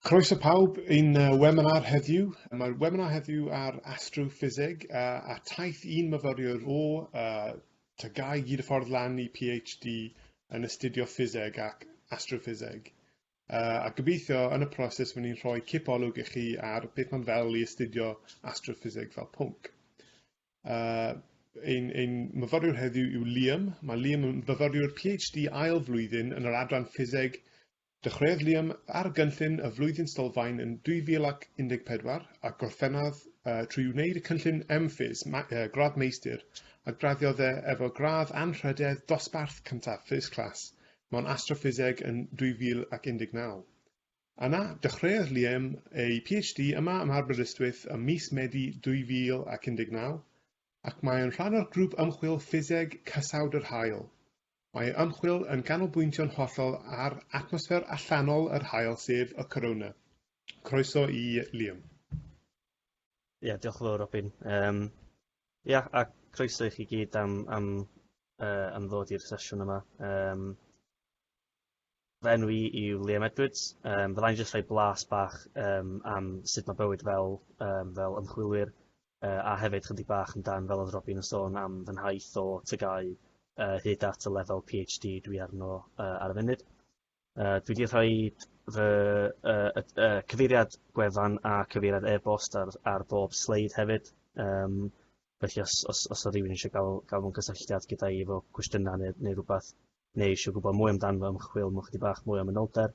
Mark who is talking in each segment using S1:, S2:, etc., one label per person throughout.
S1: Croeso pawb i'n webinar heddiw. Mae'r webinar heddiw ar astroffiseg a, a taith un myfyriwr o uh, Tygau gyd y ffordd lan i PhD yn astudio ffiseg ac astroffiseg. Uh, a gobeithio yn y proses fy ni'n rhoi cip olwg i chi ar beth mae'n fel i astudio astroffiseg fel pwnc. Uh, ein, ein myfyriwr heddiw yw Liam. Mae Liam yn myfyriwr PhD ail flwyddyn yn yr adran ffiseg. Dechreuodd Liam ar gynllun y flwyddyn sylfaen yn 2014 a gorffennodd uh, trwy wneud y cynllun MPhys, ma, uh, gradd meistr, a graddiodd e efo gradd anrhydedd dosbarth cyntaf first class mewn astroffiseg yn 2019. Yna, dechreuodd Liam ei PhD yma ym Aberystwyth ym mis Medi 2019, ac mae yn rhan o'r Grŵp Ymchwil Ffiseg Cysawd yr Haul. Mae ei ymchwil yn canolbwyntio'n hollol ar atmosffer allanol yr haul sef y corona. Croeso i Liam.
S2: Ia, diolch yn fawr Robin. Um, ia, a croeso i chi gyd am, am, uh, am ddod i'r sesiwn yma. Um, Fy enw i yw Liam Edwards. Um, Fyddai'n jyst rhoi blas bach um, am sut mae bywyd fel, um, fel ymchwilwyr uh, a hefyd chydig bach amdan fel oedd Robin yn sôn am fy nhaith o tygau uh, hyd at y lefel PhD dwi arno uh, ar y funud. Uh, dwi wedi rhoi fy uh, uh, uh, cyfeiriad gwefan a cyfeiriad e-bost ar, ar bob sleid hefyd. Um, felly os, os, os o rhywun eisiau gael, gael mewn cysylltiad gyda i efo cwestiynau neu, neu rhywbeth, neu eisiau gwybod mwy amdano fo, ymchwil mewn chydig bach mwy o manylder,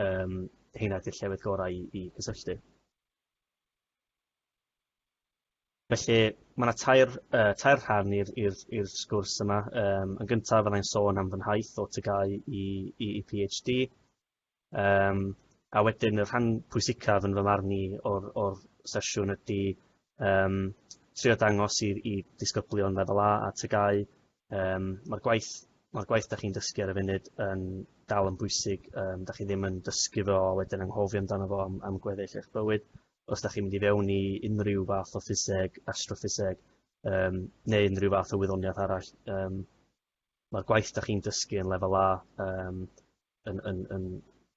S2: um, heina ydy'r llefydd gorau i, i gysylltu. Felly, mae yna tair, uh, tair rhan i'r sgwrs yma. Um, yn gyntaf, fyddai'n sôn am fy nhaith o tygau i, i, i PhD. Um, a wedyn y rhan pwysicaf yn fy marn i o'r, or sesiwn ydy um, trio dangos i, i disgyblion lefel A a tygau. Um, Mae'r gwaith, ma gwaith da chi'n dysgu ar y funud yn dal yn bwysig. Um, da chi ddim yn dysgu fo a wedyn anghofio amdano fo am, am gweddill eich bywyd. Os da chi'n mynd i fewn i unrhyw fath o ffiseg, astroffiseg, um, neu unrhyw fath o wyddoniaeth arall, um, mae'r gwaith da chi'n dysgu yn lefel A um, yn, yn, yn,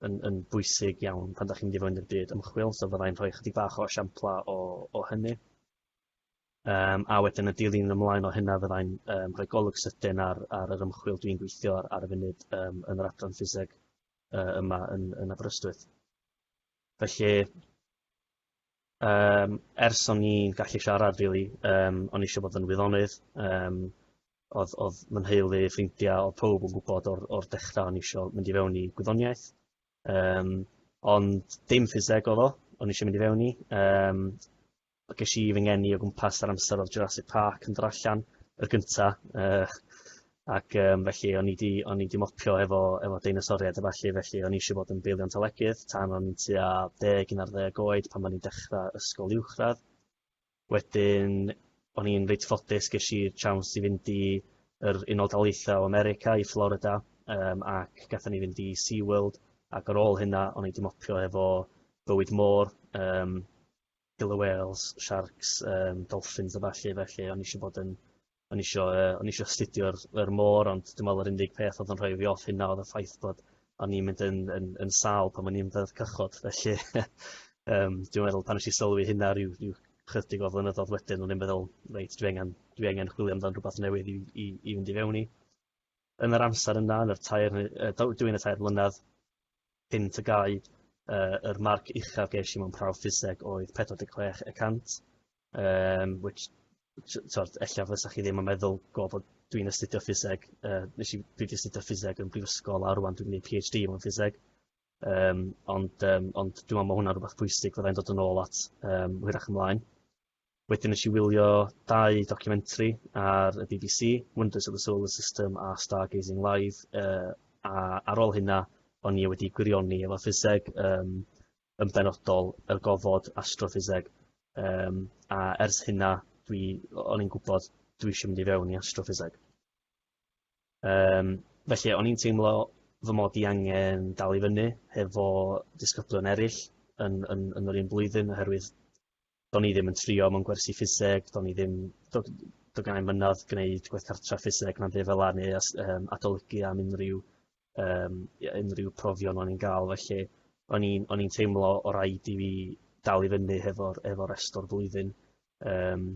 S2: yn, yn bwysig iawn pan da chi'n mynd i fewn i'r byd ymchwil, so fyddai'n rhoi chydig bach o esiampla o, o hynny. Um, a wedyn y dilyn ymlaen o hynna fyddai'n um, rhoi golwg sydyn ar, ar yr ymchwil dwi'n gweithio ar, ar y funud um, yn yr adran ffiseg uh, yma yn, yn Aberystwyth. Felly, Yym ers o'n i'n gallu siarad rili yym o'n i isio bod yn wyddonydd yym odd odd fy nheulu ffrindia odd powb yn gwbod o'r o'r dechra o'n i isio mynd i fewn i gwyddoniaeth yym ond dim ffiseg odd o o'n i isio mynd i fewn i yym a gesh i fy ngeni o gwmpas yr amser odd Jurassic Park yn dod allan y gynta yy ac yym felly o'n i 'di o'n i 'di mopio efo efo deinosoriaid a ballu felly o'n i isio bod yn baleontolegydd tan o'n i'n tua deg un ar ddeg oed pan o'n i'n dechra ysgol uwchradd. Wedyn o'n i'n reit ffodus gesh i tsiawns i fynd i yr Unol Daleithiau o America i Florida yym ac gathon ni fynd i Sea World ac ar ôl hynna o'n i 'di mopio efo bywyd môr yym killer whales, sharks, um, dolphins a ballu, felly o'n i eisiau bod yn o'n isio, uh, o'n isio astudio'r yr môr, ond dwi'n meddwl yr unig peth oedd yn rhoi fi off hynna oedd y ffaith bod o'n i'n mynd yn, yn, yn sal pan o'n i'n ddeddf cychod. Felly, um, dwi'n meddwl pan eisiau sylwi hynna rhyw, rhyw chydig o flynyddoedd wedyn, o'n i'n meddwl, reit, dwi angen, dwi angen chwilio amdan rhywbeth newydd i, i, i fynd i fewn i. Yn yr amser yna, yn yr tair, dwi'n y tair mlynedd, Pum TGAU, yr marc uchaf ges i mewn prawf ffiseg oedd 46 y cant, um, which, tywed, ella fysa chi ddim yn meddwl go bod dwi'n astudio ffiseg, uh, nes i, dwi wedi astudio ffiseg yn brifysgol a rwan dwi'n gwneud PhD mewn ffiseg. Um, ond, um, ond dwi'n meddwl mae hwnna'n rhywbeth pwysig fyddai'n dod yn ôl at um, hwyrach ymlaen. Wedyn nes i wylio dau documentary ar y bbc, Wonders of the Solar System a Stargazing Live, uh, a ar ôl hynna o'n i wedi gwirioni efo ffiseg, um, yn benodol y gofod astroffiseg. Um, a ers hynna, dwi, o'n i'n gwybod dwi eisiau mynd i fewn i astroffiseg. Um, felly, o'n i'n teimlo fy mod i angen dal i fyny hefo disgyblion eraill yn, yn, yn yr un blwyddyn oherwydd do'n i ddim yn trio mewn gwersi ffiseg do'n i ddim do- do'dd gennai 'im mynadd gneud gwaith cartra ffiseg na'm by' fel 'a neu os yym adolygu am unrhyw yym ie unrhyw profion o'n i'n ga'l felly o'n i'n o'n i'n teimlo o' raid i fi dal i fyny hefo'r efo rest o'r flwyddyn yym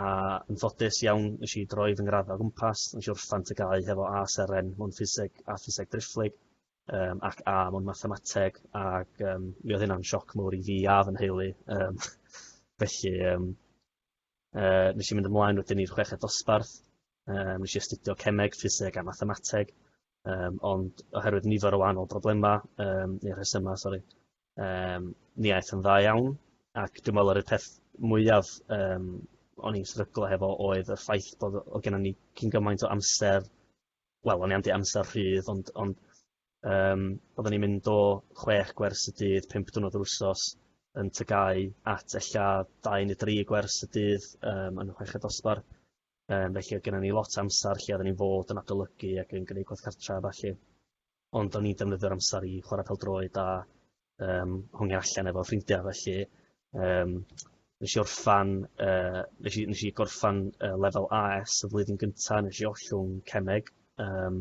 S2: a yn ffodus iawn nesh i droi fy ngradda o gwmpas nesh i orffan TGAU hefo A seren mewn ffiseg a ffiseg driphlyg um, ac A mewn mathemateg, ac um, mi oedd hynna'n sioc mawr i fi a fy nheulu. Um, felly, um, uh, nes i mynd ymlaen wedyn i'r chweched dosbarth, um, nes i astudio cemeg, ffiseg a mathemateg, um, ond oherwydd nifer o wahanol broblemau, um, neu rhesymau, sori, um, ni aeth yn dda iawn, ac dwi'n meddwl yr peth mwyaf um, o'n i'n sryglo hefo oedd y ffaith bod o gennym ni cyn gymaint o amser wel o'n i am deu' amser rhydd ond ond yym odden ni'n mynd o chwech gwers y dydd pump diwrnod yr wsos yn Ty Gy at ella dau ne' dri gwers y dydd yym yn y chweched dosbarth yym felly oedd gennon ni lot o amsar lle odden ni'n fod yn adolygu ac yn gneud gwaith cartra a ballu. Ond o'n i'n defnyddio'r amser i chwara pêl-droed a yym hongian allan efo ffrindia felly yym nesh i orffan yy nesh i nesh i gorffan yy lefel Are Ess y flwyddyn gynta nesh i ollwng cemeg yym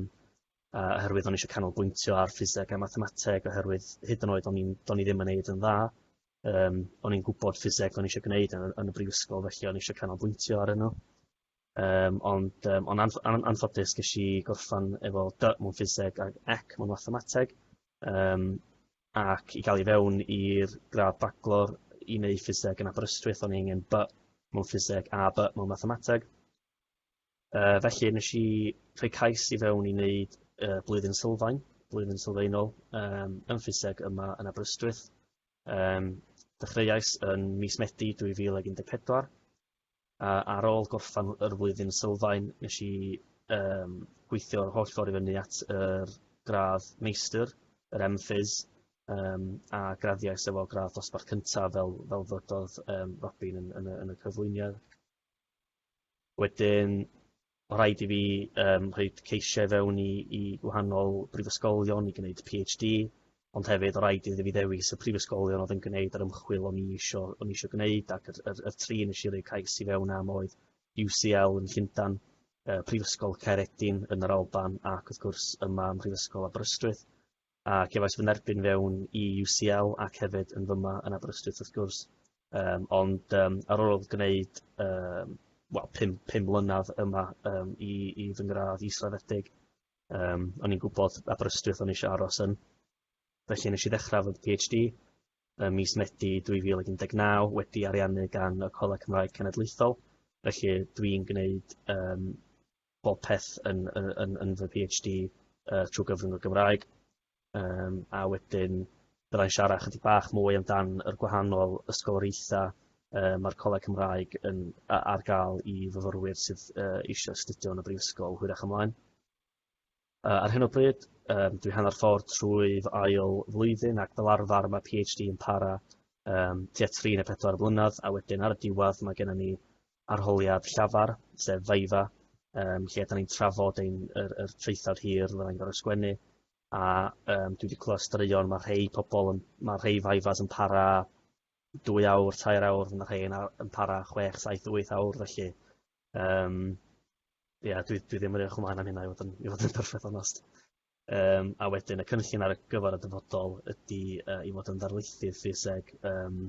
S2: a oherwydd o'n i isio canolbwyntio ar ffiseg a mathemateg oherwydd hyd yn oed o'n i'n do'n i ddim yn neud yn dda yym o'n i'n gwbod ffiseg o'n i isio gneud yn y yn y brifysgol felly o'n i isio canolbwyntio arno. Yym ond yym on' anff- an- anffodus gesh i gorffan efo dy mewn ffiseg ag ec mewn mathemateg yym ac i ga'l i fewn i'r gradd Baclor i neu' ffiseg yn Aberystwyth o'n i angen by mewn ffiseg a by mewn mathemateg. Yy felly nesh i rhoi cais i fewn i neud y blwyddyn sylfaen blwyddyn sylfaenol yym yn ffiseg yma yn Aberystwyth yym dechreuais yn mis Medi dwy fil ag un deg pedwar a ar ôl gorffan yr flwyddyn sylfaen nes i yym gweithio yr holl ffordd i fyny at yr gradd meistr, yr MPhys, um, a graddiais efo gradd dosbarth cyntaf fel, fel ddydodd um, Robin yn, yn, yn y cyflwyniad. Wedyn, Mae rhaid i fi um, rhaid ceisio i fewn i, i gwahanol brifysgolion i gwneud PhD, ond hefyd o rhaid iddi fi ddewis y prifysgolion oedd yn gwneud yr ymchwil o'n i isio, o'n i isio gwneud ac yr, yr, yr tri nes i roi cais i fewn am oedd UCL yn Llundan, uh, Prifysgol Caeredin yn yr Alban ac wrth gwrs yma ym Mhrifysgol Aberystwyth. a cefais fy nerbyn fewn i UCL ac hefyd yn fyma yn Aberystwyth wrth gwrs um, ond um, ar ôl gwneud um, well, pum, pum mlynedd yma um, i, i fy ngradd israddedig um, o'n i'n gwybod Aberystwyth o'n eisiau aros yn felly nes i ddechrau fy PhD ym mis Medi 2019 wedi ariannu gan y Coleg Cymraeg Cenedlaethol felly dwi'n gwneud um, popeth yn yn yn yn fy Pee Haitch Dee yy trw gyfrwng y Gymraeg yym a wedyn byddai'n siara chydig bach mwy amdan yr gwahanol ysgoloriaetha yy ma'r Coleg Cymraeg yn a- ar ga'l i fyfyrwyr sydd yy eisio astudio yn y brifysgol hwyrach ymlaen. Yy ar hyn o bryd yym dwi hanner ffordd trwy fy ail flwyddyn ac fel arfer ma' PhD yn para yym tua tri ne' pedwar blynedd a wedyn ar y diwedd ma' gennon ni arholiad llafar sef Viva yym lle 'dan ni'n trafod ein yr yr traethawd hir fyddai'n gor'o' sgwennu a yym dwi 'di clwad straeon ma' rhei pobol yn ma' rhei Vivas yn para dwy awr tair awr ma' rhei yn a- yn para chwech saith wyth awr felly Yym ia dwi dwi ddim yn edrych ymlaen am hynna i fod yn i fod yn perffeth onast. Yym a wedyn y cynllun ar y gyfar y dyfodol ydi yy i fod yn ddarlithydd ffiseg yym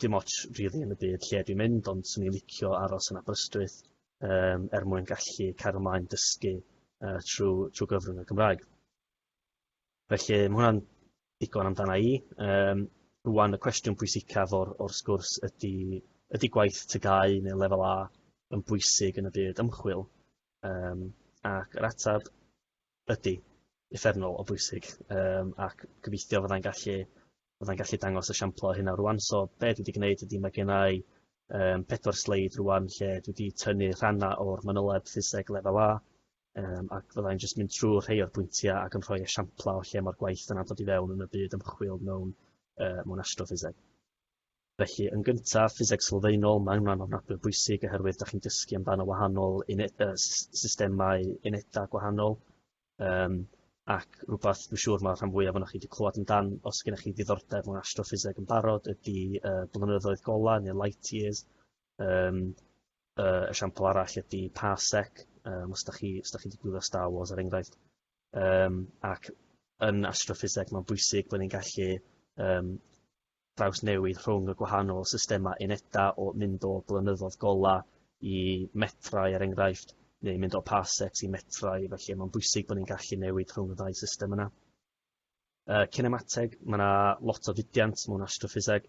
S2: dim ots rili yn y byd lle dwi'n mynd ond 'swn i'n licio aros yn Aberystwyth yym er mwyn gallu cario mlaen dysgu yy trw trw gyfrwng y Gymraeg. Felly ma' hwnna'n ddigon amdana i. Yym rŵan y cwestiwn pwysicaf o'r o'r sgwrs ydy ydy gwaith TGAU neu lefel A yn bwysig yn y byd ymchwil? Yym ac yr ateb ydy, uffernol o bwysig yym ac gobeithio fyddai'n gallu fyddai'n gallu dangos esiampl o hynna rŵan so be' dwi 'di gneud ydy ma' gennai yym pedwar sleid rŵan lle dwi 'di tynnu rhanna' o'r manyleb ffiseg lefel A Um, ac fyddai'n jyst mynd trwy rhai o'r pwyntiau ac yn rhoi esiamplau o lle mae'r gwaith yna dod i fewn yn y byd ymchwil mewn, uh, mewn astroffiseg. Felly, yn gyntaf, ffiseg sylfaenol, mae hwnna'n ofnadwy bwysig oherwydd da chi'n dysgu amdano wahanol uh, systemau unedau gwahanol. Um, ac rhywbeth dwi'n siŵr mae rhan fwyaf o'n chi wedi clywed amdan os gennych chi ddiddordeb mewn astroffiseg yn barod ydy uh, blynyddoedd golau neu light years. Um, Uh, esiampl arall ydy Parsec, um, os da chi, os da chi wedi gwylio Star Wars ar er enghraifft. Um, ac yn astroffiseg mae'n bwysig bod ni'n gallu um, draws newid rhwng y gwahanol systemau uneda o mynd o blynyddoedd gola i metrau er enghraifft, neu mynd o parsecs i metrau, felly mae'n bwysig bod ni'n gallu newid rhwng y ddau system yna. Y cinemateg, mae yna lot o fudiant mewn astroffiseg,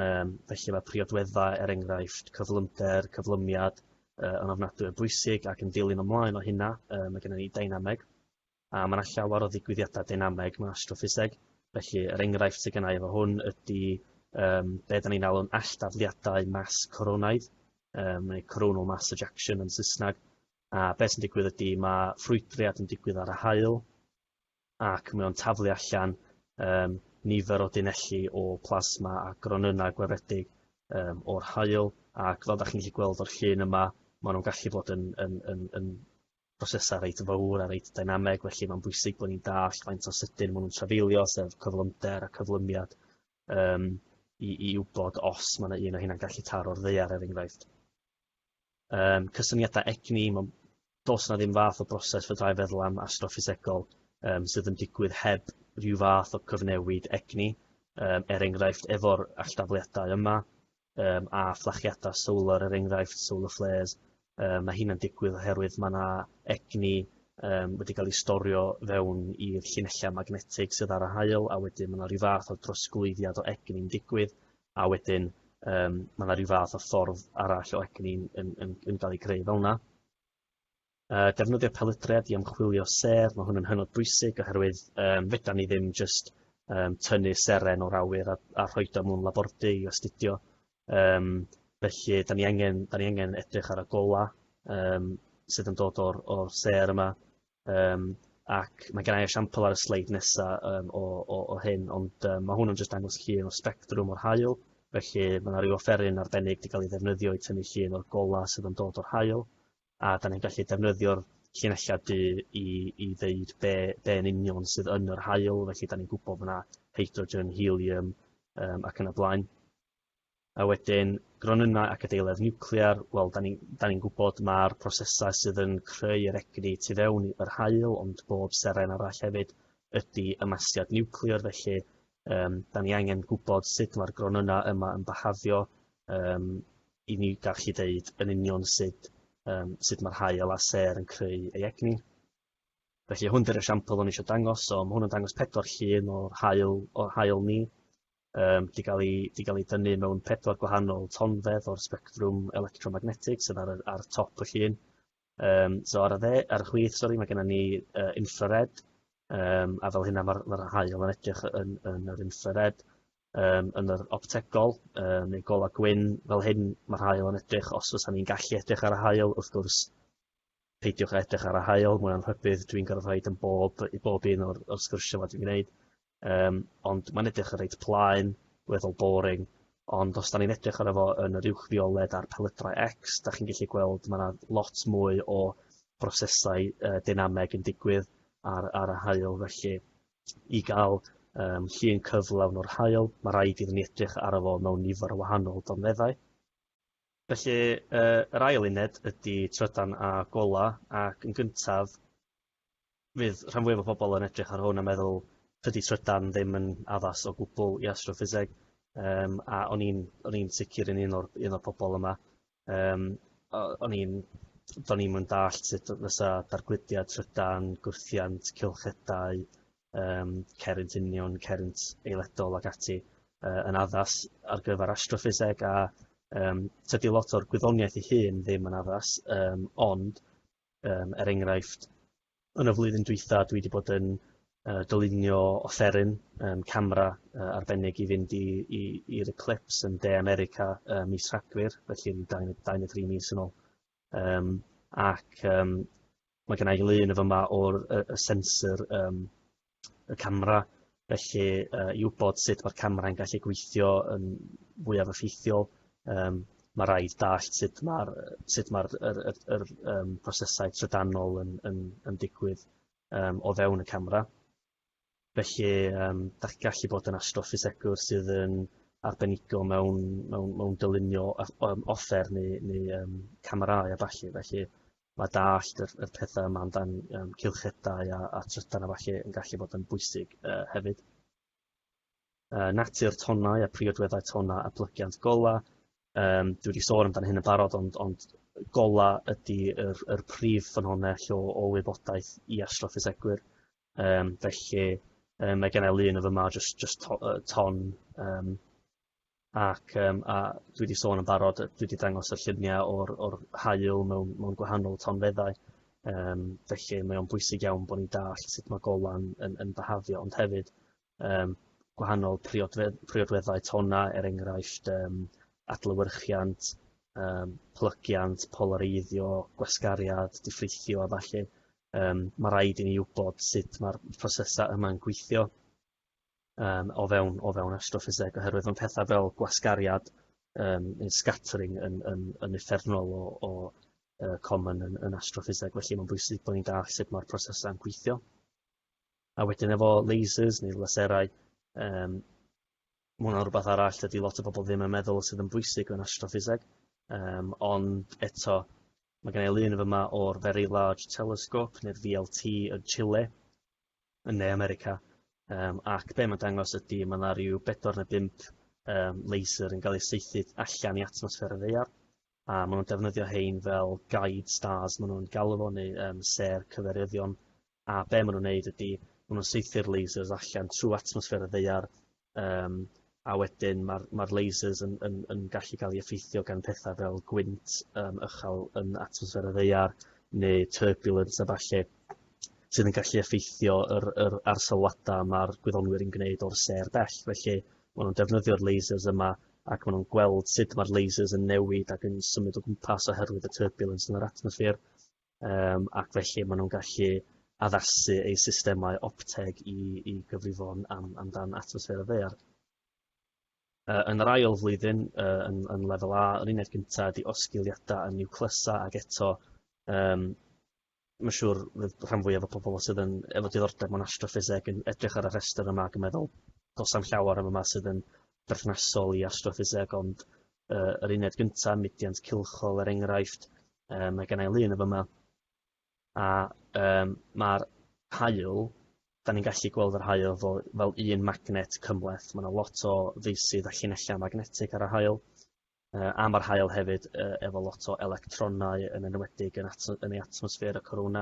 S2: um, felly mae priodweddau, er enghraifft, cyflymder, cyflymiad, uh, yn ofnadwy o bwysig ac yn dilyn ymlaen o hynna, uh, mae gennym ni dynameg, a mae yna llawer o ddigwyddiadau dynameg mewn astroffiseg, felly yr er enghraifft sydd gennau efo hwn ydy um, be da ni'n alw'n alldafliadau mas coronaidd, um, neu coronal mass ejection yn Saesneg, a beth sy'n digwydd ydy mae ffrwydriad yn digwydd ar y hael, ac mae o'n taflu allan um, nifer o dunelli o plasma a gronynnau gwefedig um, o'r hael, ac fel da chi'n gallu gweld o'r llun yma, maen nhw'n gallu bod yn, yn, yn, yn brosesau reit fawr a reit dynameg, felly mae'n bwysig bod ni'n dall faint o sydyn maen nhw'n trafeilio, sef cyflymder a cyflymiad, um, i, i wybod os mae yna un o hynna'n gallu taro'r ddeiar, er enghraifft. um, cysyniadau egni, mae'n dos na ddim fath o broses fydrai feddwl am astroffisegol um, sydd yn digwydd heb rhyw fath o cyfnewid egni, um, er enghraifft efo'r alldafliadau yma, um, a fflachiadau solar er enghraifft, solar flares, um, mae hyn yn digwydd oherwydd mae yna egni um, wedi cael ei storio fewn i'r llinellau magnetig sydd ar y hael a wedyn mae yna rhyw fath o drosglwyddiad o egni'n digwydd a wedyn yym ma' 'na ryw fath o ffordd arall o egni yn yn yn ga'l 'i greu fel 'na. Yy defnyddio pelydriad i ymchwilio sêr ma' hwn yn hynod bwysig oherwydd yym fedan ni ddim jyst yym tynnu seren o'r awyr a a rhoid o mewn labordy i astudio yym felly 'dan ni angen 'dan ni angen edrych ar y gola' yym sydd yn dod o'r o'r sêr yma Um, ac mae gen i esiampl ar y sleid nesaf um, o, o, o hyn, ond um, mae hwn yn jyst dangos llun o spectrwm o'r hael, felly mae yna rhyw offeryn arbennig wedi cael ei ddefnyddio i tynnu llun o'r gola sydd yn dod o'r hael, a da ni'n gallu defnyddio'r llinellau du i, i ddeud be, be yn union sydd yn yr hael, felly da ni'n gwybod bod yna hydrogen, helium um, ac yn y blaen. a wedyn gronynnau ac adeiledd niwclear, wel, da ni'n da ni gwybod mae'r prosesau sydd yn creu yr egni tu fewn i'r haul, ond bob seren arall hefyd ydy ymasiad niwclear, felly um, da ni angen gwybod sut mae'r gronynnau yma yn bahafio um, i ni gallu deud yn union sut, um, sut mae'r hael a ser yn creu ei egni. Felly hwn dy'r esiampl o'n eisiau dangos, so mae hwn yn dangos pedwar llun o'r hael, o'r hael ni, Yym, 'di ga'l 'i 'di ga'l 'i dynnu mewn pedwar gwahanol tonfedd o'r sbectrwm electromagnetics sydd ar y ar top y llun. Yym so ar y dde ar y chwith sori ma' gennon ni yy infrared yym a fel hynna ma'r ma'r haul yn edrych yn yn yr infrared yym yn yr optegol yy neu gola gwyn fel hyn ma'r haul yn edrych os fysan ni'n gallu edrych ar y haul wrth gwrs peidiwch a edrych ar y haul mwy am rhybudd dwi'n gorfod rhaid yn bob i bob un o'r o'r sgyrsia 'ma dwi'n gneud yym ond ma'n edrych yn reit plaen weddol boring ond os 'dan ni'n edrych arno fo yn yr uwch fioled a'r pelydrau ecs 'dach chi'n gellu gweld ma' 'na lot mwy o brosesau yy deinameg yn digwydd ar ar y haul felly i ga'l yym llun cyflawn o'r haul ma' raid iddyn ni edrych arno fo mewn nifer o wahanol dogfeddau. Felly, yr ail uned ydy trydan a gola, ac yn gyntaf, fydd rhan fwyaf o bobl yn edrych ar hwn a meddwl, tydi trydan ddim yn addas o gwbl i astroffiseg, um, a o'n i'n o'n i'n sicr yn un o'r un o'r pobl yma. Um, o'n i'n do'n i'm yn dallt sut fysa dargludiad trydan, gwrthiant, cylchedau, um, cerrynt union, cerrynt eiledol ac ati uh, yn addas ar gyfer astroffiseg a um, tydi lot o'r gwyddoniaeth ei hun ddim yn addas, um, ond um, er enghraifft, yn y flwyddyn dwytha dwi wedi bod yn uh, dylunio offeryn um, camera uh, arbennig i fynd i'r eclips yn De America uh, mis Rhagfyr, felly 23 mis yn ôl. Yym ac yym mae gen i lun y fyma o'r y, y sensor um, y camera felly uh, i wybod sut mae'r camera'n gallu gweithio yn fwyaf effeithiol um, mae rhaid dallt sut mae'r sut mae'r yr, yr, yr, um, prosesau trydanol yn, yn, yn digwydd um, o fewn y camera. Felly yym dach chi'n gallu bod yn athro ffisegwr sydd yn arbenigo mewn mewn mewn dylunio a- yym offer neu neu yym camerâu a ballu felly ma' dallt yr y petha' yma amdan yym cylchedau a a trydan a ballu yn gallu bod yn bwysig yy hefyd. Yy natur tonnau a priodweddau tonna a plygiant gola' yym dwi 'di sôn amdan hyn yn barod ond ond gola' ydi yr yr prif ffynhonnell o o wybodaeth i athro ffisegwyr. Yym felly yym mae genna lun o fy ma' jyst jyst to- yy ton yym ac yym a dwi 'di sôn yn barod yy dwi 'di dangos y llunia' o'r o'r haul mewn mewn gwahanol tonfeddau yym felly mae o'n bwysig iawn bo' ni'n dallt sut ma' golan yn yn byhafio ond hefyd um, gwahanol priodfedd, priodweddau tonna, er enghraifft um, adlywyrchiant, um, plygiant, polareiddio, gwasgariad, diffrithio a falle. Um, mae rhaid i ni wybod sut mae'r prosesau yma'n gweithio um, o fewn, o fewn astroffiseg, oherwydd mae pethau fel gwasgariad um, neu scattering yn, yn, yn effernol o, o uh, common yn, yn astroffiseg, felly mae'n bwysig bod ni'n dall sut mae'r prosesau'n gweithio. A wedyn efo lasers neu laserau yym ma' wnna'n rwbath arall dydi lot o bobol ddim yn meddwl sydd yn bwysig mewn astroffiseg yym ond eto ma' gennai lun yn fy' 'ma o'r Very Large Telescope ne'r VLT yn Chile yn Ne America yym ac be' ma'n dangos ydi ma' 'na ryw bedwar ne' bump yym laser yn ga'l ei saethu allan i atmosffer y ddaear a maen nhw'n defnyddio hein fel guide stars maen nhw'n galw fo neu um, ser cyferyddion a be maen nhw'n gwneud ydy maen nhw'n seithio'r lasers allan trwy atmosffer y ddeiar um, a wedyn mae'r ma lasers yn, yn, yn gallu cael ei effeithio gan pethau fel gwynt um, ychal yn atmosffer y ddeiar neu turbulence a falle sydd yn gallu effeithio yr, yr arsalwadau mae'r gwyddonwyr yn gwneud o'r ser bell felly maen nhw'n defnyddio'r lasers yma ac maen nhw'n gweld sut mae'r lasers yn newid ac yn symud o gwmpas oherwydd y turbulence yn yr atmosffer, um, ac felly maen nhw'n gallu addasu eu systemau opteg i, i gyfrifon am, amdan atmosffer y ddear. Uh, yn yr ail flwyddyn, uh, yn, yn lefel A, yr uned gyntaf ydy osgiliadau yn niwclysau ac eto um, Mae'n siŵr fydd rhan fwyaf o pobl sydd yn efo diddordeb mewn astroffiseg yn edrych ar y rhestr yma ac yn meddwl does am llawer am yma sydd yn berthnasol i astroffiseg ond uh, yr uned gyntaf, mudiant cilchol er enghraifft, um, mae gennau lun efo yma a um, mae'r hael, da ni'n gallu gweld yr hael fel, fel un magnet cymleth. Mae yna lot o feisydd a llinellau magnetig ar y hael. yy a ma'r haul hefyd yy efo lot o electronau yn enwedig yn ato- yn ei atmosffer y corona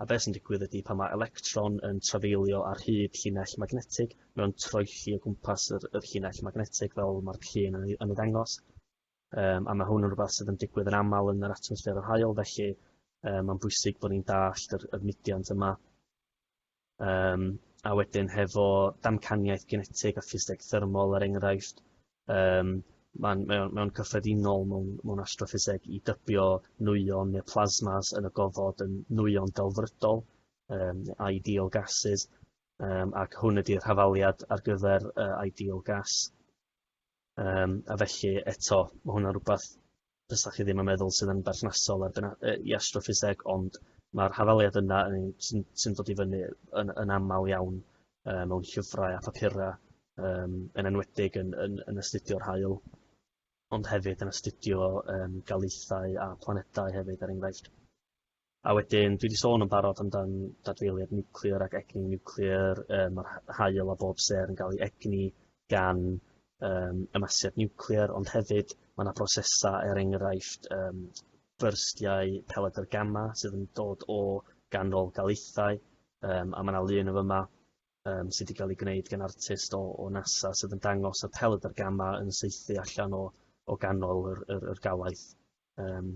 S2: a be' sy'n digwydd ydi pan ma' electron yn trafeilio ar hyd llinell magnetig mae o'n troelli o gwmpas yr yr llinell magnetig fel ma'r llun yn ei yn ei ddangos yym a ma' hwn yn rwbath sydd yn digwydd yn amal yn yr atmosffer yr haul felly yy ma'n bwysig bo' ni'n dallt yr yr mudiant yma. Yym, a wedyn hefo damcaniaeth genetig a ffiseg thermol er enghraifft, yym, mae'n mae o'n mae o'n cyffredinol mewn mewn astroffiseg i dybio nwyon neu plasmas yn y gofod yn nwyon delfrydol, um, ideal gases, um, ac hwn ydy'r hafaliad ar gyfer uh, ideal gas. Yym a felly eto ma' hwnna'n rwbath fysa chi ddim yn meddwl sydd yn berthnasol ar bena- yy i astroffiseg ond ma'r hafaliad yna yn un sy'n sy'n dod i fyny yn yn amal iawn yy mewn llyfrau a phapura yym yn enwedig yn yn yn astudio'r haul ond hefyd yn astudio yym daleithau a planedau hefyd er enghraifft. A wedyn, dwi 'di sôn yn barod amdan dadfeiliad niwclear ac egni niwclear, yy ma'r ha- haul a bob sêr yn ga'l 'i egni gan yym ymasiad niwclear ond hefyd ma' 'na brosesa' er enghraifft yym byrstiau peledr gama sydd yn dod o ganol daleithau yym a ma' 'na lun yn fy' 'ma yym sy' 'di ga'l 'i gneud gan artist o o NASA sydd yn dangos y peledr gama yn saethu allan o o ganol yr yr yr galaeth yym.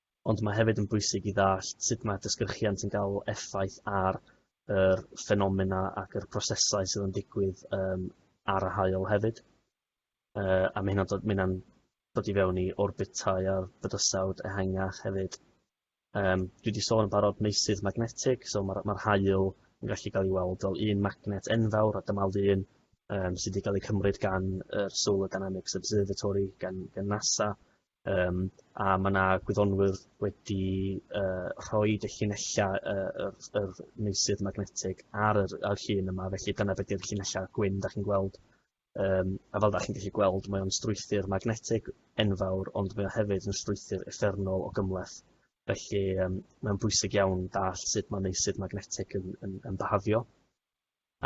S2: ond mae hefyd yn bwysig i ddallt sut mae disgyrchiant yn cael effaith ar yr ffenomena ac yr prosesau sydd yn digwydd um, ar y hael hefyd. Uh, a mae hynna'n dod i fewn i orbitau a bydysawd ehangach hefyd. Um, dwi wedi sôn yn barod meysydd magnetig, so mae'r ma hael yn gallu cael ei weld fel un magnet enfawr a dyma lun um, sydd wedi cael ei cymryd gan yr Solar Dynamics Observatory, gan, gan NASA, Yym a ma' 'na gwyddonwyr wedi yy rhoid y llinella' yy yr yr meysydd magnetig ar yr ar llun yma felly dyna be' 'di'r llinella' gwyn 'dach chi'n gweld yym a fel 'dach chi'n gellu gweld mae o'n strwythur magnetig enfawr ond mae o hefyd yn strwythur uffernol o gymhleth felly yym mae'n bwysig iawn dallt sut ma' meysydd magnetig yn yn yn byhafio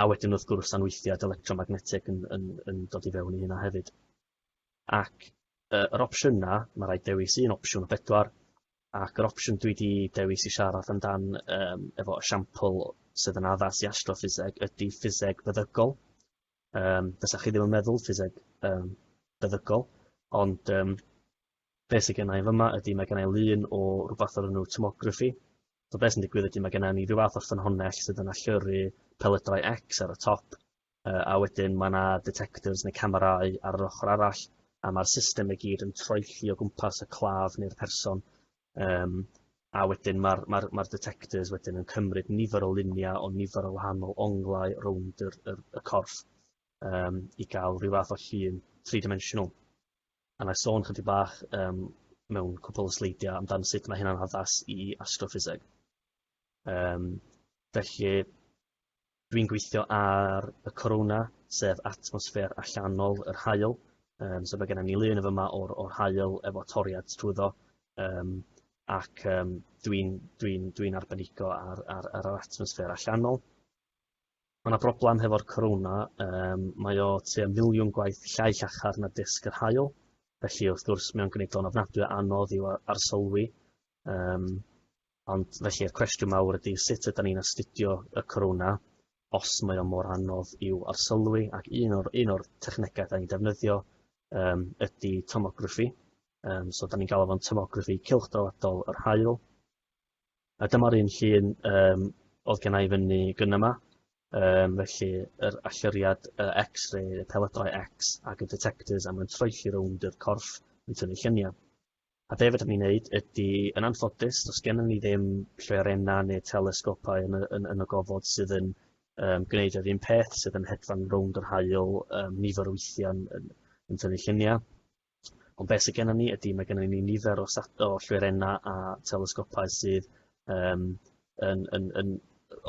S2: a wedyn wrth gwrs anweithiad electromagnetig yn yn yn dod i fewn i hynna hefyd. ac yy yr opsiyna ma' raid dewis un opsiwn o bedwar ac yr opsiwn dwi 'di dewis i siarad amdan yym efo esiampl sydd yn addas i astroffiseg ydi ffiseg feddygol yym fysa chi ddim yn meddwl ffiseg yym feddygol ond yym be' sy gennai yn fyma ydi ma' gennai lun o rwbath o'r enw tomograffi so be' sy'n digwydd ydi ma' genna ni ryw fath o ffynhonnell sydd yn allyrru pelydau X ar y top yy a wedyn ma' 'na detectors ne' camerâu ar yr ochor arall a ma'r system i gyd yn troelli o gwmpas y claf ne'r person yym a wedyn ma'r ma'r ma'r detectors wedyn yn cymryd nifer o lunia o nifer o wahanol onglau rownd yr yr y corff yym i ga'l ryw fath o llun thrî dimensional. A nâi sôn chydig bach yym mewn cwpwl o sleidia amdan sut ma' hynna'n addas i astroffiseg. Yym felly Dwi'n gweithio ar y corona, sef atmosffer allanol yr haul, um, so mae gennym ni lun yn fyma o'r, or haul efo toriad trwyddo, um, ac um, dwi'n dwi dwi arbenigo ar, ar, ar yr atmosffer allanol. Mae yna broblem hefo'r corona, um, mae o tua miliwn gwaith llai llachar na disg yr hael, felly wrth gwrs mae'n gwneud o'n ofnadwy anodd i'w arsylwi. Um, Ond felly y cwestiwn mawr ydy sut ydan ni'n astudio y corona os mae o mor anodd i'w arsylwi ac un o'r, un o'r technegau da ni'n defnyddio um, ydy tomograffi. Um, so da ni'n galw fo'n tomograffi cylchdaladol yr hael. A dyma'r un llun um, oedd gen i fyny gyn yma. Um, felly, yr allyriad uh, X-ray, y peledrau X ac y detectors a mae'n troelli rownd yr corff yn tynnu lluniau. A be fedrwn ni wneud ydy, yn anffodus, does gennym ni ddim lloerennau neu telesgopau yn y, yn, yn y gofod sydd yn um, gwneud yr un peth, sydd yn hedfan rownd yr hael um, nifer o weithiau yn, yn tynnu lluniau. Ond beth sydd gennym ni ydy, mae gennym ni nifer o, o lloerennau a telesgopau sydd um, yn, yn, yn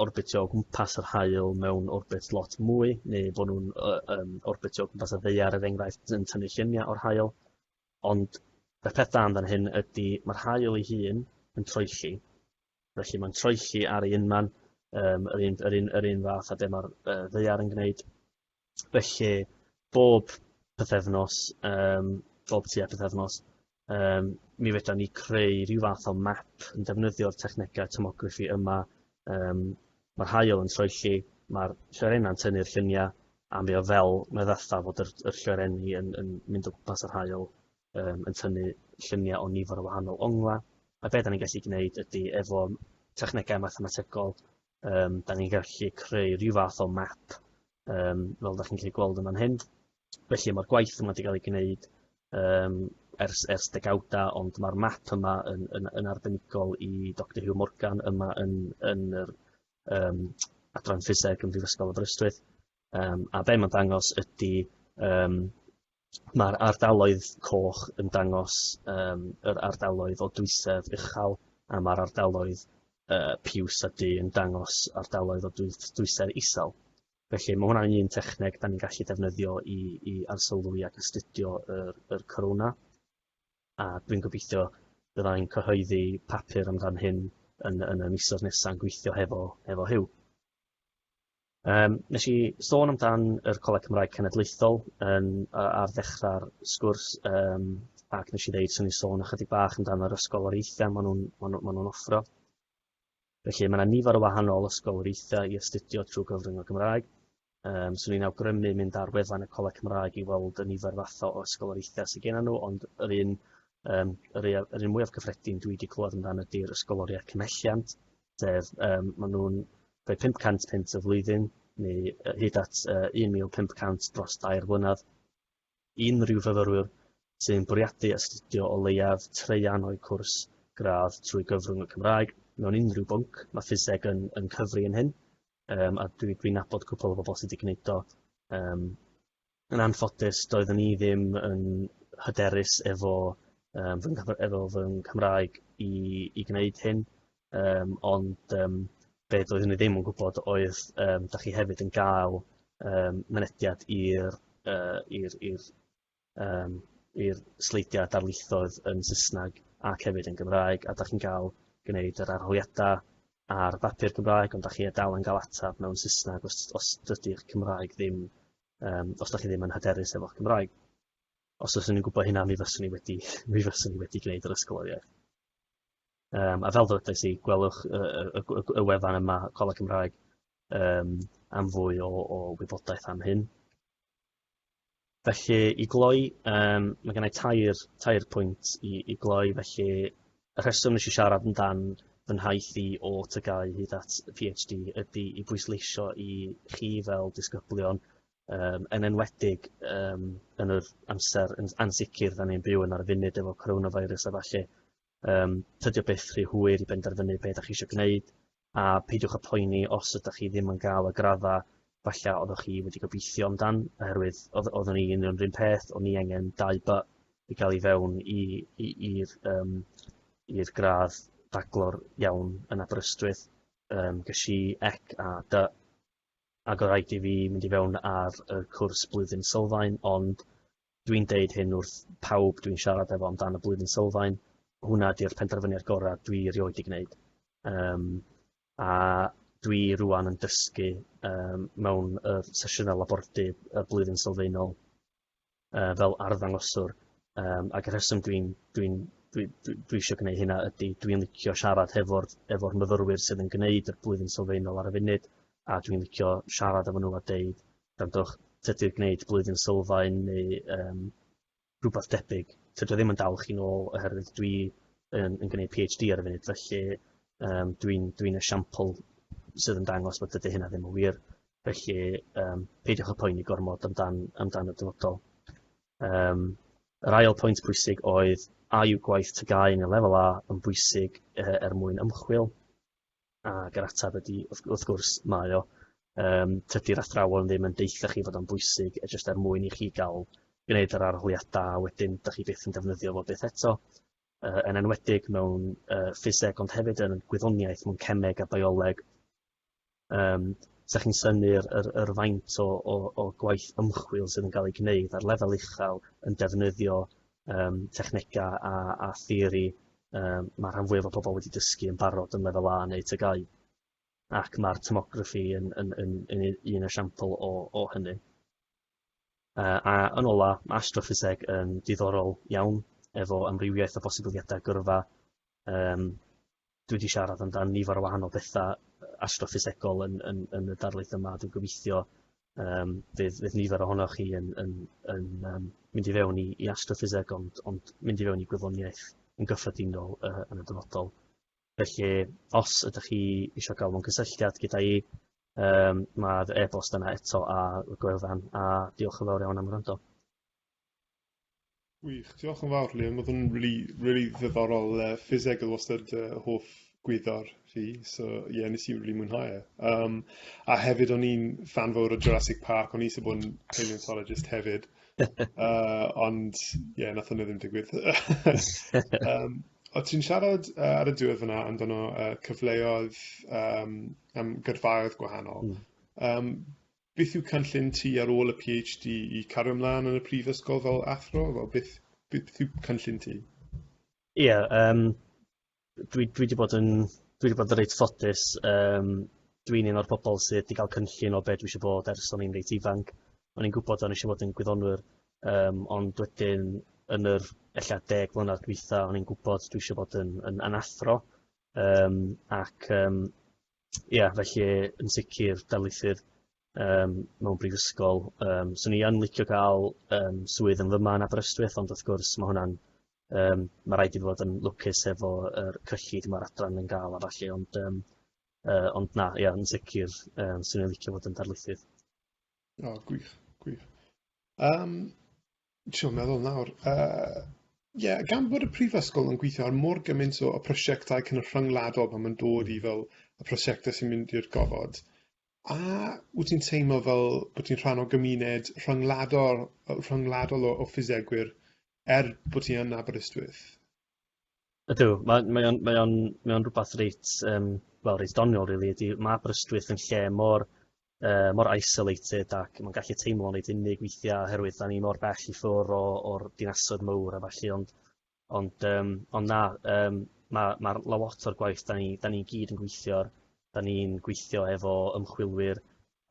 S2: orbitio o gwmpas yr hael mewn orbit lot mwy, neu bod nhw'n um, orbitio o gwmpas y ddeiar, er enghraifft, yn tynnu lluniau o'r hael. Ond y peth da amdan hyn ydi ma'r haul ei hun yn troelli, felly mae'n troelli ar ei unman, um, yr, un, yr, un, yr un fath a be mae'r uh, ddeiar yn gwneud. Felly, bob pethefnos, um, bob tua pethefnos, um, mi fedra ni creu rhyw fath o map yn defnyddio'r technegau tomography yma um, Mae'r haul yn troelli, mae'r lloerennau'n tynnu'r lluniau, a mi oedd fel, mi oedd fatha fod yr, yr lloerenni yn, yn mynd o gwmpas yr haul, um, yn tynnu lluniau o nifer o wahanol ongla. A beth da ni'n gallu gwneud ydy efo technegau mathemategol, um, da ni'n gallu creu rhyw fath o map, um, fel da chi'n gallu gweld yma'n hyn, Felly mae'r gwaith yma wedi cael ei gwneud um, ers, ers degawda, ond mae'r map yma yn, yn, yn arbenigol i Dr Hugh Morgan yma yn, yn yr um, adran ffiseg yn Brifysgol Aberystwyth. Um, a be mae'n dangos ydy um, mae'r ardaloedd coch yn dangos um, yr ardaloedd o dwysedd uchel a mae'r ardaloedd uh, piws a du yn dangos ardaloedd o dwysedd isel. Felly mae hwnna'n un techneg da ni'n gallu defnyddio i, i arsylwi ac astudio yr, yr corona. A dwi'n gobeithio bydda i'n cyhoeddi papur amdan hyn yn, yn y misoedd nesaf yn gweithio hefo, hefo hyw. Um, nes i sôn amdan yr Coleg Cymraeg Cenedlaethol yn, ar ddechrau'r sgwrs um, ac nes i ddeud sy'n ei sôn ychydig bach amdan yr ysgoloriaethau maen nhw'n ma nhw, ma nhw offro. Felly, mae yna nifer o wahanol ysgoloriaethau i astudio trwy gyfrwng y Gymraeg. Um, swn i'n awgrymu mynd ar wefan y Coleg Cymraeg i weld y nifer fath o ysgoloriaethau sydd gen nhw, ond yr un, um, yr, yr un mwyaf cyffredin dwi wedi clywed amdano ydy'r ysgoloriaeth cymhelliant, sef um, maen nhw'n rhoi 500 pint y flwyddyn neu hyd at uh, 1,500 dros dair blynedd. unrhyw fyfyrwyr sy'n bwriadu astudio o leiaf traean o'u cwrs gradd trwy gyfrwng y Cymraeg mewn unrhyw bwnc. Mae ffiseg yn, yn cyfri yn hyn, um, a dwi'n dwi nabod cwpl o bobl sydd wedi gwneud o. Um, yn anffodus, doeddwn i ddim yn hyderus efo, um, fy, efo fy Nghymraeg i, i gwneud hyn, Yym ond yym be' doeddwn ni ddim yn gwbod oedd yym 'dach chi hefyd yn ga'l yym mynediad i'r yy i'r i'r yym i'r sleidia darlithoedd yn Sysnag ac hefyd yn Gymraeg a 'dach chi'n ga'l gneud yr arholiada ar bapur Cymraeg ond 'dach chi yy dal yn ga'l atab mewn Sysnag os os dydi'r Cymraeg ddim yym os 'dach chi ddim yn hyderus efo'ch Cymraeg. Os fyswn i'n gwbo hynna mi fyswn i wedi mi fyswn i wedi gneud yr ysgol oriau. Yym, a fel ddwedais i, gwelwch y, y, y, y wefan yma, Coleg Cymraeg, um, am fwy o, o wybodaeth am hyn. Felly, i gloi, um, mae gennau tair, tair pwynt i, i gloi, felly y rheswm nes i siarad yn dan fy nhaith i o tygau hyd at PhD ydy i bwysleisio i chi fel disgyblion um, yn enwedig um, yn yr amser yn ansicr da ni'n byw yn ar y funud efo coronavirus a falle Yym, tydi o byth rhy hwyr i benderfynu be da chi eisiau gwneud, a peidiwch â phoeni os ydych chi ddim yn gael y graddau falle oeddech chi wedi gobeithio amdan, oherwydd oedd, oeddwn i yn yr un peth, o'n i angen dau by i gael i fewn i'r um, i'r gradd baglor iawn yn Aberystwyth, um, ges i ec a dy, ac oedd rhaid i fi mynd i fewn ar y cwrs blwyddyn sylfaen, ond Dwi'n deud hyn wrth pawb dwi'n siarad efo amdan y Blwyddyn Sylfaen, hwnna ydy'r penderfyniad gorau dwi erioed 'di gwneud. Yym, a dwi rŵan yn dysgu um, mewn y sesiynau labordy y Blwyddyn Sylfaenol uh, fel arddangoswr, um, ac y rheswm dwi'n dwi dwi, dwi, dwi eisiau gwneud hynna ydy dwi'n licio siarad hefo'r efo myfyrwyr sydd yn gwneud y blwyddyn sylfaenol ar y funud a dwi'n licio siarad efo nhw a deud Gwrandwch, tydi'r gwneud blwyddyn sylfaen neu um, rhywbeth debyg, tydio ddim yn dal chi'n ôl oherwydd dwi yn, yn gwneud PhD ar y funud, felly um, dwi'n dwi, dwi esiampl sydd yn dangos bod dydy hynna ddim yn wir. Felly, um, peidiwch â poeni gormod amdan, amdan y dyfodol. Um, yr ail pwynt pwysig oedd, a yw gwaith tygau yn y lefel A yn bwysig uh, er mwyn ymchwil? Ac yr ateb ydy, wrth, wrth gwrs, mae o. Um, tydy'r athrawon ddim yn deitha chi fod o'n bwysig, e jyst er mwyn i chi gael gwneud yr arholiadau, a wedyn da chi byth yn defnyddio fo byth eto uh, yn enwedig mewn uh, ffiseg ond hefyd yn gwyddoniaeth mewn cemeg a bioleg. Um, Sa chi'n syni'r yr, yr faint o, o, o gwaith ymchwil sydd yn cael ei gwneud ar lefel uchel yn defnyddio um, technegau a, a theori um, mae rhan fwyaf o pobl wedi dysgu yn barod yn lefel A neu tygau. Ac mae'r tomography yn, yn, yn, yn, yn un esiampl o, o hynny. Uh, a yn ola, mae astroffiseg yn diddorol iawn efo amrywiaeth o bosibiliadau gyrfa. Um, dwi wedi siarad amdano nifer o wahanol bethau astroffisegol yn, yn, yn y darlith yma. Dwi'n gobeithio Yym fydd fydd nifer ohonoch chi yn yn yn yym mynd i fewn i i astroffiseg ond ond mynd i fewn i gwyddoniaeth yn gyffredinol yy yn y dyfodol. Felly os ydych chi isio ga'l mewn cysylltiad gyda i yym ma'r e-bost yna eto ar y gwefan a diolch yn fawr iawn am wrando.
S1: Gwych, diolch yn fawr Liam, oedd yn really, really ddiddorol, uh, ffiseg oedd wastad uh, hoff gwyddor fi, so ie, yeah, nes i really mwynhau e. Um, a hefyd o'n i'n fan fawr o Jurassic Park, o'n i eisiau bod yn paleontologist hefyd, uh, ond ie, yeah, nath hwnna ddim digwydd. um, o ti'n siarad uh, ar y diwedd fyna amdano uh, cyfleoedd um, am gyrfaoedd gwahanol. Mm. Um, Beth yw cynllun ti ar ôl y PhD i cario ymlaen yn y prifysgol fel athro? Fel beth, beth yw cynllun ti? Ie, yeah,
S2: um, dwi, dwi wedi bod yn dwi wedi bod yn reit ffodus. Um, dwi'n un o'r pobl sydd wedi cael cynllun o beth dwi eisiau bod ers o'n i'n reit ifanc. O'n i'n gwybod o'n eisiau bod yn gwyddonwyr, um, ond wedyn yn yr ella deg mlynedd dwytha, o'n i'n gwybod dwi eisiau bod yn, yn, yn athro. Um, ac um, ia felly yn sicr darlithydd um, mewn brifysgol. Um, so ni yn licio cael um, swydd yn fyma yn Aberystwyth, ond wrth gwrs mae hwnna'n um, mae rhaid i fod yn lwcus efo er, cyllid mae'r adran yn gael a falle, ond, um, uh, ond na, ia, yn sicr, um, sy'n ei licio fod yn darlithydd. O,
S1: gwych, gwych. Um, Trio meddwl nawr. Yy ie, gan bod y prifysgol yn gweithio ar mor gymaint o, o prosiectau cynryngwladol pan mae'n dod mm. i hmm. fel y prosiectau sy'n mynd i'r gofod, a wyt ti'n teimlo fel bod ti'n rhan o gymuned rhyngwladol, rhyngwladol o, o ffisegwyr er bod ti yn Aberystwyth?
S2: Ydw ma' mae o'n mae o'n mae o'n rwbath reit yym wel reit doniol rili ydi ma' Aberystwyth yn lle mor yy mor isolated ac ma'n gallu teimlo'n reit unig weithia' oherwydd 'dan ni mor bell i ffwr' o o'r dinasoedd mowr a ballu ond ond yym ond na yym ma' ma'r lot o'r gwaith 'dan ni 'dan ni gyd yn gweithio'r 'dan ni'n gweithio efo ymchwilwyr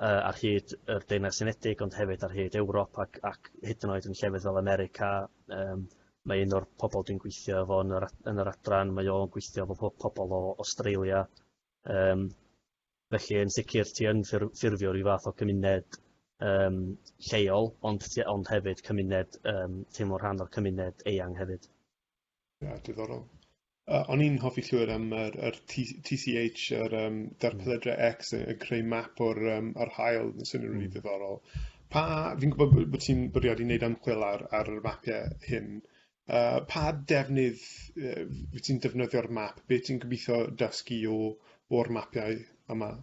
S2: yy ar hyd yr Deyrnas Unedig ond hefyd ar hyd Ewrop ac ac hyd yn oed yn llefydd fel America yym mae un o'r pobol dwi'n gweithio efo yn yr ad- yn yr adran mae o'n gweithio efo po- pobol o Australia yym felly yn sicr ti yn ffurf- ffurfio ryw fath o gymuned yym lleol ond ti ond hefyd cymuned yym teimlo rhan o'r cymuned eang hefyd. Ia,
S1: diddorol. Uh, o'n i'n hoffi llwyr am yr, yr TCH, yr um, darpledre X, yn creu map o'r, um, ar hael, yn syniad rili mm. ddiddorol. Pa, fi'n gwybod bod ti'n bwriadu wneud ymchwil ar, ar yr mapiau hyn. Uh, pa defnydd uh, wyt ti'n defnyddio'r map? Be ti'n gobeithio dysgu o'r mapiau yma?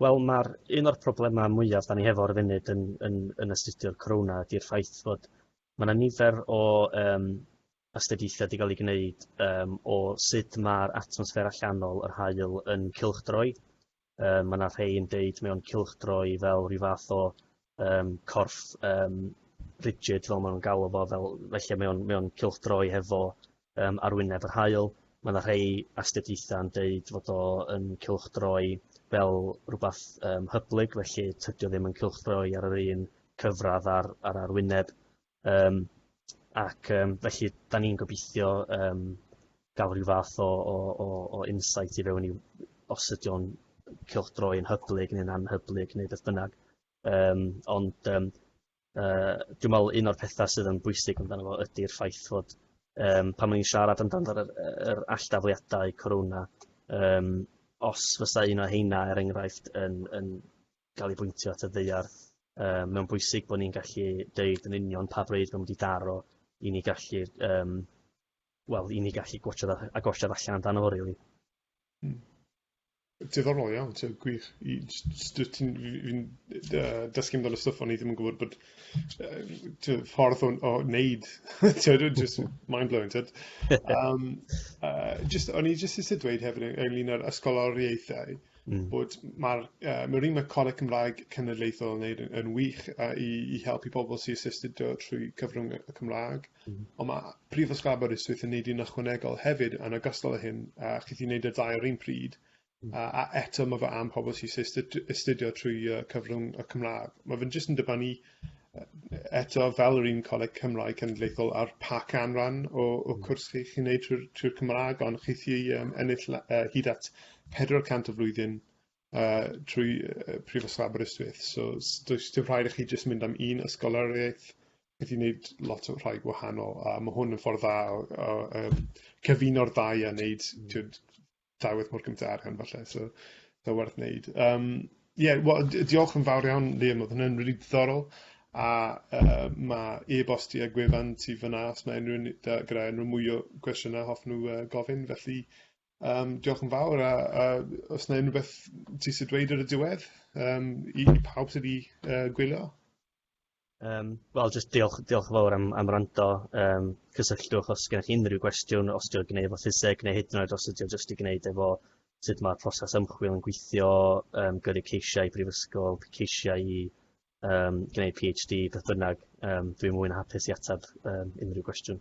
S2: Wel ma'r un o'r problema mwyaf 'da ni hefo ar y funud yn yn yn astudio'r corona ydi'r ffaith fod ma' 'na nifer o yym astudiaethe 'di ga'l 'u gneud yym o sud ma'r atmosffer allanol yr haul yn cylchdroi yy ma' 'na rhei yn deud mae o'n cylchdroi fel ryw fath o yym corff yym rigid fel ma' nw'n galw fo fel felly mae o'n mae o'n cylchdroi hefo yym arwyneb yr haul ma' 'na rhei astudiaetha'n deud fod o yn cylchdroi fel rwbath yym hyblyg felly tydi o ddim yn cylchdroi ar yr un cyfradd â'r â'r arwyneb Um, ac um, felly, da ni'n gobeithio um, gael rhyw fath o, o, o, o insight i fewn i os ydy o'n cylchdroi yn hyblyg neu'n anhyblyg neu beth bynnag. Um, ond um, uh, dwi'n meddwl un o'r pethau sydd yn bwysig amdano fo ydy'r ffaith fod um, pan mae'n siarad amdano yr, yr alldafliadau corona, um, os fysa un o heina, er enghraifft, yn, yn gael ei bwyntio at y ddaear. Yym, mae'n bwysig bod ni'n gallu deud yn union pa bryd mae'n mynd i daro i ni gallu, um, wel, i ni gallu gwachod a, a golled allan amdano fo, really. Hmm.
S1: Diddorol iawn, ti'n gwych. Fi'n dysgu amdano stwff o'n i ddim yn gwybod bod uh, ffordd o, o wneud. ti'n just mind-blowing, ti'n um, uh, just, O'n i just eisiau dweud hefyd ynglyn â'r ysgoloriaethau, uh, mm. bod mae'r uh, ma un mae Coleg Cymraeg Cenedlaethol yn gwneud yn, yn wych uh, i, i helpu pobl sy'n assisted trwy cyfrwng y Cymraeg, mm. ond mae Prifysgol Aberystwyth yn gwneud un ychwanegol hefyd yn ogystal â hyn, a uh, chi'n gwneud y ddau o'r un pryd, mm. uh, a eto mae fe am pobl sy'n astudio trwy uh, cyfrwng y Cymraeg. Mae fe'n jyst yn dibynnu uh, eto, fel yr un Coleg Cymraeg Cenedlaethol ar pa canran o, o hmm. cwrs chi, chi'n neud trwy'r trwy Cymraeg, ond chi chi um, ennill uh, hyd at 400 o flwyddyn uh, trwy uh, Prifysgol Aberystwyth. So, does dim rhaid i chi jyst mynd am un ysgoloriaeth, chi wedi gwneud lot o rhai gwahanol, a mae hwn yn ffordd dda o, o um, cyfuno'r ddau a wneud hmm. dau waith mor gymaint o arian falle, so so werth wneud. Um, ie, wel, diolch yn fawr iawn, Liam, oedd hynny'n rili diddorol, a uh, mae e-bost i a gwefan ti fyna os mae unrhyw un da- gyda unrhyw mwy o gwestiynau hoff nhw uh, gofyn, felly um, diolch yn fawr, a, a os yna unrhyw beth ti sydd dweud ar y diwedd um, i, i pawb sydd wedi uh, gwylio? Um,
S2: Wel, jyst diolch, diolch yn fawr am, am rando. Um, cysylltwch os gennych chi unrhyw gwestiwn, os diolch gwneud efo ffiseg, neu hyd yn oed os ydy o jyst i gwneud efo sut mae'r proses ymchwil yn gweithio, um, gyrru ceisiau i brifysgol, ceisiau i um, gwneud PhD, beth bynnag. Um, dwi'n mwyn hapus i ateb um, unrhyw gwestiwn.